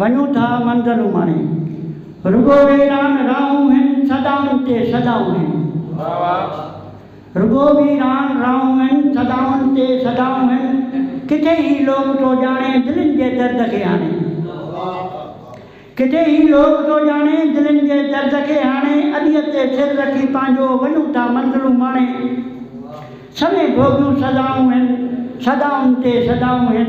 وڃون ٿا منظر اماڻي. رڳو ويران راهون هن صدائن تي صدائون هن. واھ واھ. رڳو ويران راهون هن صدائن تي صدائون هن ڪٿي هي لوڪ ٿو ڄاڻي دلين جي درد کي هاڻي. ڪٿي هي لوڪ ٿو ڄاڻي دلين جي درد کي هاڻي اڏيء تي سر رکي پنهنجو وڃون ٿا منظر اماڻي. سوين ڀوڳيون سزائون هن صدائن تي صدائون هن.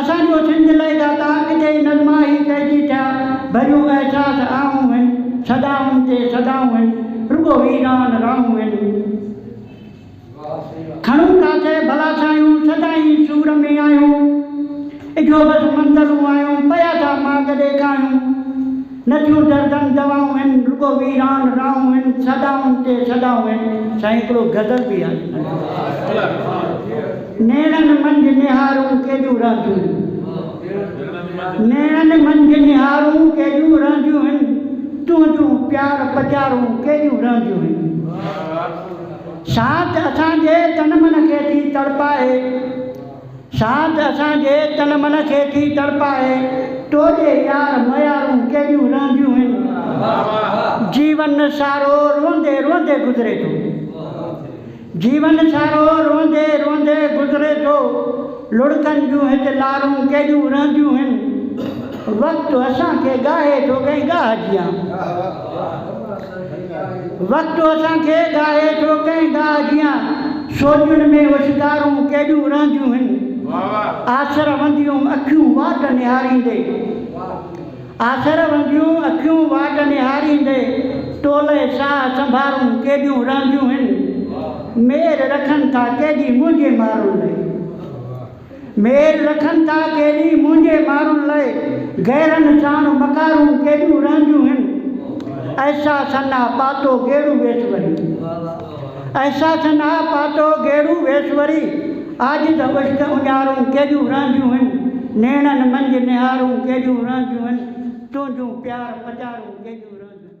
اسان جو سنڌ لئه داتا اڳتي نظما هي پئجي ٿيا ڀريون احساس آهون هن صدائن تي صدائون هن رڳو ويران راهون هن کڻون ڪاٿي ڀلا سايون سدائين سور ۾ آهيون اجهو بس منظرون آهيون پيا ٿا ماڳ ڏيکايون. نه ٿيون دردن دوائون هن رڳو ويران راهون هن صدائن تي صدائون هن سائين هڪڙو غزل به آهي نيڻن منجهه نهارون ڪيڏيون رهنديون هن نيڻن منجهه نهارون ڪيڏيون رهنديون هن تنهنجون پيار پچارون ڪيڏيون رهنديون هن ساٿ اسان جي تن من کي ٿي تڙپائي. ساٿ اسان جي تن من کي ٿي تڙپائي تنهنجي يار ميارون ڪيڏيون رئنديون هن جيون سارو روئندي روئندي گذري ٿو جيون سارو روئندي روئندي گذري ٿو لڙڪن جون هت لارون ڪيڏيون رئنديون هن وقت اسان کي ڳاهي ٿو ڪنهن ڳاهه جيان. وقت اسان کي گاهي ٿو ڪنهن گاهه جيان سوڄن ۾ اوشڪارون ڪيڏيون رهنديون هن آسر ونديون اکيون واٽ نهاريندي آسر ونديون اکيون واٽ نهاريندي ٽولي ساهه سنڀارون ڪيڏيون رهنديون هن مير رکن ٿا ڪيڏي منهنجي مارون لاء. ميل رکن ٿا ڪيڏي منهنجي مارون لئي غيرن ساڻ مڪارون ڪيڏيون رهنديون هن احساسن آ پاتو گيڙو ويس وري احساسن آ پاتو گيڙو ويس وري عاجز عشق اڃارون ڪيڏيون رهنديون هن نيڻن منجهه نهارون ڪيڏيون رهنديون هن تنهنجون پيار پچارون ڪيڏيون رهنديون هن.